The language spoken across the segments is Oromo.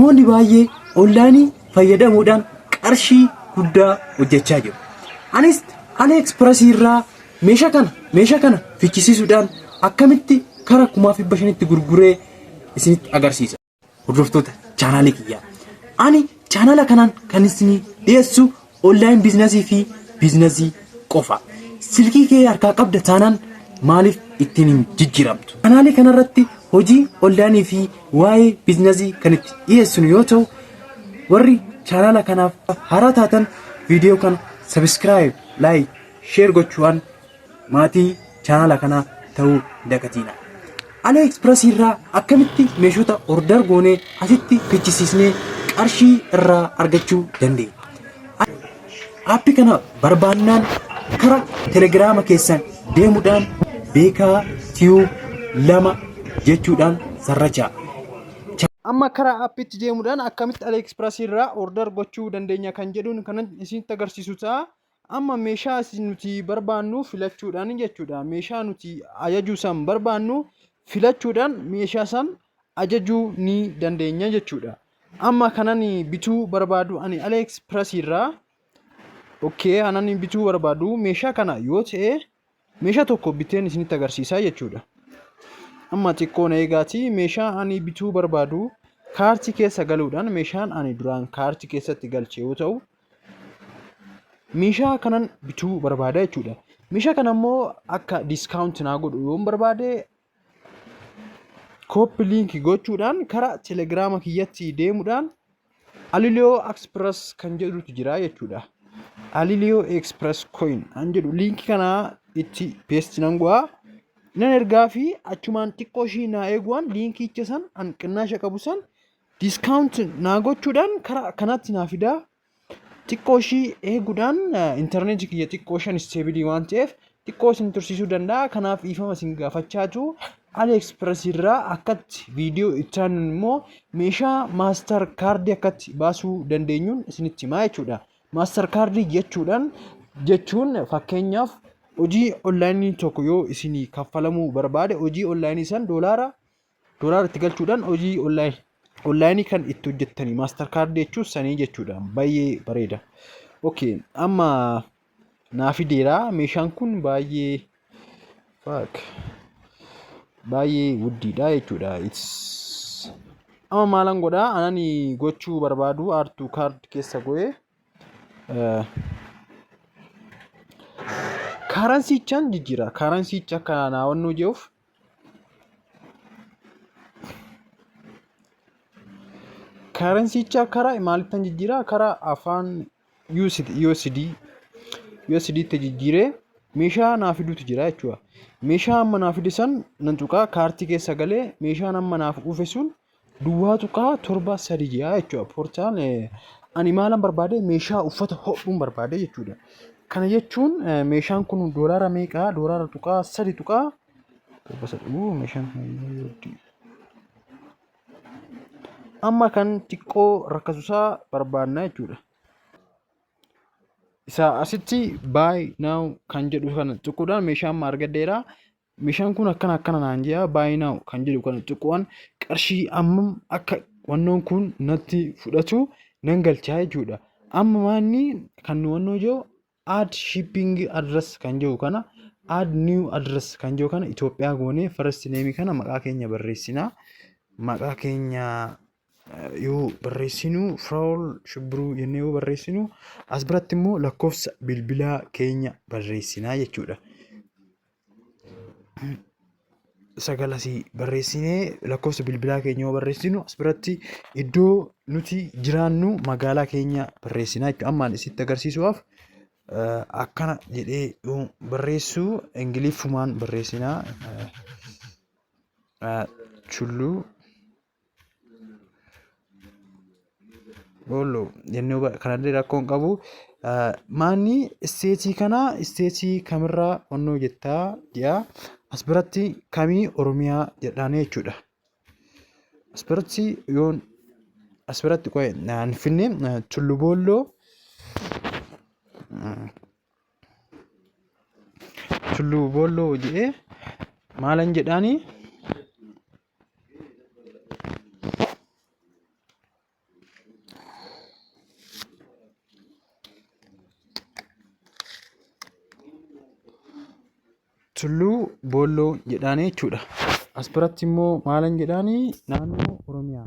Namoonni baay'ee onlaayinii fayyadamuudhaan qarshii guddaa hojjechaa jiru. Anis AliExpress irraa meeshaa kana meeshaa kana fichisiisuudhaan akkamitti kara kumaaf dhibba shanitti gurguree isinitti agarsiisa. Hordoftoota chaanaalii kiyyaa. Ani chaanaala kanaan kan isinii dhiyeessu Online business fi business qofa. Silkii kee harkaa qabda taanaan maaliif ittiin hin jijjiiramtu? Kanaalii kanarratti hojii online fi waa'ee business kan itti dhiyeessinu yoo ta'u warri chaanaala kanaaf haaraa taatan viidiyoo kana subscribe, like, share gochuudhaan maatii chaanala kanaa ta'uu dagatiina. Alee Express irraa akkamitti meeshota order goonee asitti fichisiisnee qarshii irraa argachuu dandeenya. Aappi kana barbaannaan kara telegiraama keessan deemuudhaan beekaa tiyuub lama jechuudhaan sarrachaa. Amma kara aappitti deemuudhaan akkamitti Alee Express irraa order gochuu dandeenya kan jedhuun kanan isinitti agarsiisu ta'a. Amma meeshaa isin nuti barbaannu filachuudhaan jechuudha. Meeshaa nuti ajajuu san barbaannu filachuudhaan meeshaa san ajajuu ni dandeenya jechuudha. Amma kanan bituu barbaadu ani Aleeks Piras irraa okay kanan bituu barbaadu meeshaa kana yoo ta'e Meeshaa tokko biteen isinitti agarsiisaa jechuudha. Amma xiqqoo na eegaatii meeshaa ani bituu barbaadu kaartii keessa galuudhaan meeshaan ani duraan kaartii keessatti galche yoo ta'u meeshaa kanan bituu barbaada jechuudha. Meeshaa kana immoo akka diskaawunti naa godhu yoon barbaade Kooppi liinki gochuudhaan kara telegiraama kiyyatti deemuudhaan Aliliyoo Express kan jedhutu jira jechuudha. Aliliyoo Express Coin kan jedhu liinki kana itti peesti nan go'a. Nan ergaa fi achumaan xiqqoo ishii naa eeguwaan liinkicha san hanqinnaasha qabu san diskaawunti naa gochuudhaan kara kanatti naa fidaa. Xiqqoo ishii eeguudhaan intarneetii kiyya xiqqoo shan isteebilii waan ta'eef xiqqoo isin tursiisuu danda'a. Kanaaf dhiifama isin gaafachaa jiru. AliExpress irraa akkatti viidiyoo itti aanuun immoo meeshaa maastar kaardii akkatti baasuu dandeenyuun isinitti himaa jechuudha. Maastar kaardii jechuudhaan jechuun fakkeenyaaf hojii onlaayinii tokko yoo isinii kaffalamuu barbaade hojii onlaayinii san doolaara Doolar itti galchuudhaan hojii online online kan itti hojjettanii master card jechuun sanii jechuudha baay'ee bareeda. Okay amma naa fideera meeshaan kun baay'ee fuck baay'ee guddiidha jechuudha. It's amma maalan godhaa anani gochuu barbaadu aartuu card keessa go'ee karansiichaan jijjiira karansiicha akka naawannoo je'uuf Karansicha karaa maalittan jijjiiraa? Karaa afaan USD USD USD tti jijjiiree meeshaa naa fiduutu jira jechuudha. Meeshaa amma naa fide san nan tuqaa kaartii keessa galee meeshaan amma naaf dhufe sun Duwwaa tuqaa torba sadi ja'a jechuudha. Poorchaan ani maalan barbaade meeshaa uffata hodhuun barbaade jechuudha. Kana jechuun meeshaan kun doolaara meeqaa? Doolaara tuqaa sadi tuqaa torba sadi. Meeshaan kun amma kan xiqqoo rakkasusaa barbaadna jechuudha. Isaa asitti buy now kan jedhu kana tuquudhaan meeshaa amma argadheera. meeshaan kun akkana akkana naan jedha buy now kan jedhu kana tuquwaan qarshii ammam akka wannoon kun natti fudhatu nan galchaa jechuudha. Amma maanni kan nu wannoo jiru add shipping address kan jiru kana add new address kan jiru kana Itoophiyaa goonee first name kana maqaa keenya barreessina. Maqaa keenya yoo barreessinu Firaa'ol Shibbiruu jennee yoo barreessinu as biratti immoo lakkoofsa bilbilaa keenya barreessina jechuudha. 9 asii barreessinee lakkoofsa bilbilaa keenya yoo barreessinu as biratti iddoo nuti jiraannu magaalaa keenya barreessina jechuudha. Amma ani isitti agarsiisuudhaaf eh, akkana jedhee yoo barreessu ingiliffumaan barreessina. Eh, eh, Tulluu Boollo jennee huba- kanallee rakkoo hin qabu. Ah, Maanni isteetii kana isteetii kamirraa onnoo jettaa jedha. As biratti kamii Oromiyaa jedhaanii jechuudha. As biratti yoon as biratti qo'e naan finne eh, Tullu Boolloo mm, Tullu Boolloo jedhee maalan jedhaanii Tulluu Boolloo jedhaanii jechuudha. As biratti immoo maalan jedhaanii naannoo Oromiyaa.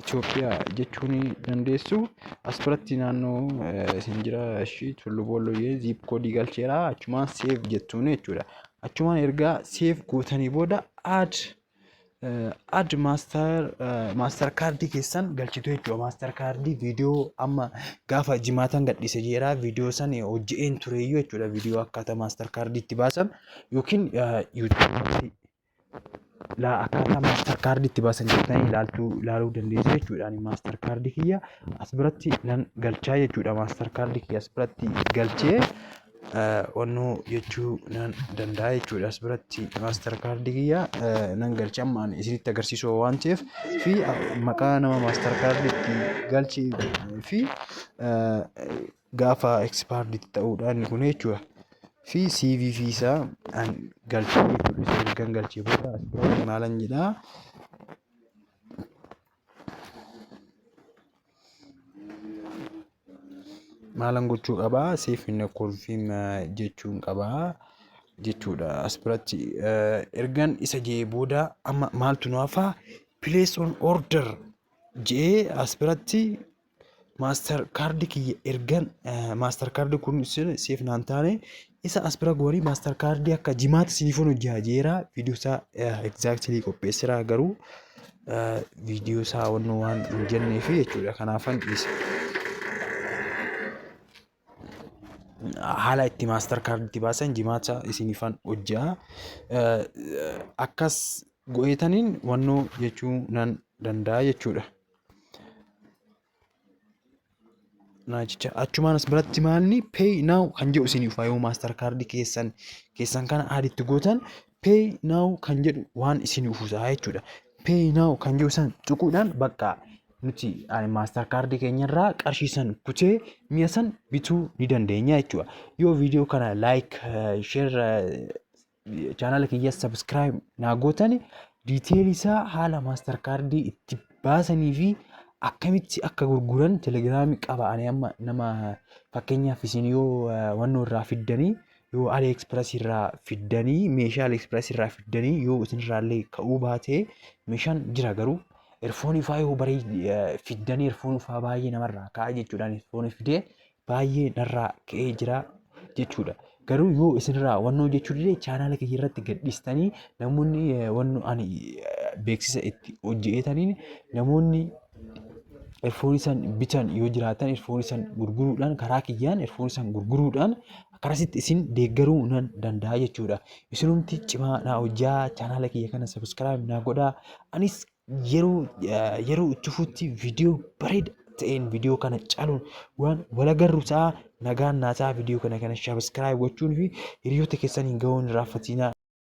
Itoophiyaa jechuu ni dandeessu. As biratti naannoo isin jira ishii Tullu Boolloo jedhee ziip koodii galcheera. Achumaan seef jettuun jechuudha. Achumaan ergaa seef gootanii booda aad Ad master master kaardii keessan galchitu jechuudha. Master kaardii viidiyoo amma gaafa jimaatan gadhiise jeera viidiyoo san hojje'een tureeyyuu jechuudha. Viidiyoo akkaataa master kaardii itti baasan yookiin yuutuubii laa akkaataa master kaardii itti baasan jettanii ilaaltuu ilaaluu dandeessu jechuudha. Ani master kaardii kiyya as biratti nan galchaa jechuudha. Master kaardii kiyya as biratti galchee onnuu jechuu nan danda'a jechuudha. As biratti maastar kaardii kiyya nan galcha amma ani isinitti agarsiisuu waan ta'eef fi maqaa nama maastar kaardii itti galchi fi gaafa ekspaardii itti ta'uudha inni kun jechuudha. Fi CV fi isaa an galcha jechuudha. Kan galchee booda as biratti maalan jedhaa. maalan gochuu qabaa siif hin kolfiin jechuun qabaa jechuudha as biratti ergan isa jee booda amma maaltu nu hafaa place on order jee as biratti maaster kaardi kiyya ergan maaster kaardi kun isin siif naan taane isa as bira goonii maaster kaardii akka jimaatti siifun hojjaa jeera viidiyoo isaa egzaaktilii qopheessira garuu viidiyoo isaa wannu waan hin jennee fi jechuudha kanaafan dhiise. haala itti maaster kaarditti baasan jimaata isinifan hojjaa akkas go'eetaniin wannoo jechuu nan danda'a jechuudha. Naachicha achumaan as biratti maalni pay now kan jedhu isiniif yoo maastar kaardii keessan keessan kana aditti gootan pay now kan jedhu waan isiniif usaa jechuudha. Pay now kan jedhu san tuquudhaan bakka nuti maastar kaardii keenyarraa qarshii san kutee mi'a san bituu ni dandeenya jechuudha. Yoo viidiyoo kana like share chaanaala kiyya subscribe naa gootani detail isaa haala master kaardii itti baasanii fi akkamitti akka gurguran telegiraamii qaba ani amma nama fakkeenyaaf isin yoo wannoo irraa fiddanii yoo aliexpress irraa fiddanii meeshaa aliexpress irraa fiddanii yoo isin irraa illee ka'uu baatee meeshaan jira garuu erfoonii faa yoo baree fiddanii erfoonii faa baay'ee namarraa ka'a jechuudhaan erfoonii fidee baay'ee narraa ka'ee jira jechuudha. Garuu yoo isinirraa wannoo jechuu dide chaanaala kiyya irratti gadhiistanii namoonni eh, wannoo ani eh, beeksisa itti hojjetaniin namoonni erfoonii san bitan yoo jiraatan erfoonii san gurguruudhaan karaa kiyyaan erfoonii san gurguruudhaan karasitti isin deeggaruu nan danda'a jechuudha. Isinumti cimaa naa hojjaa chaanaala kiyya kana sabiskiraayib naa godhaa anis yeroo yeroo itti fuutti viidiyoo bareeda ta'een viidiyoo kana caaluun waan wal agarru ta'a nagaan naa ta'a viidiyoo kana kana sabiskiraayib gochuun fi hiriyoota keessaniin ga'uu hin irraanfatinaa.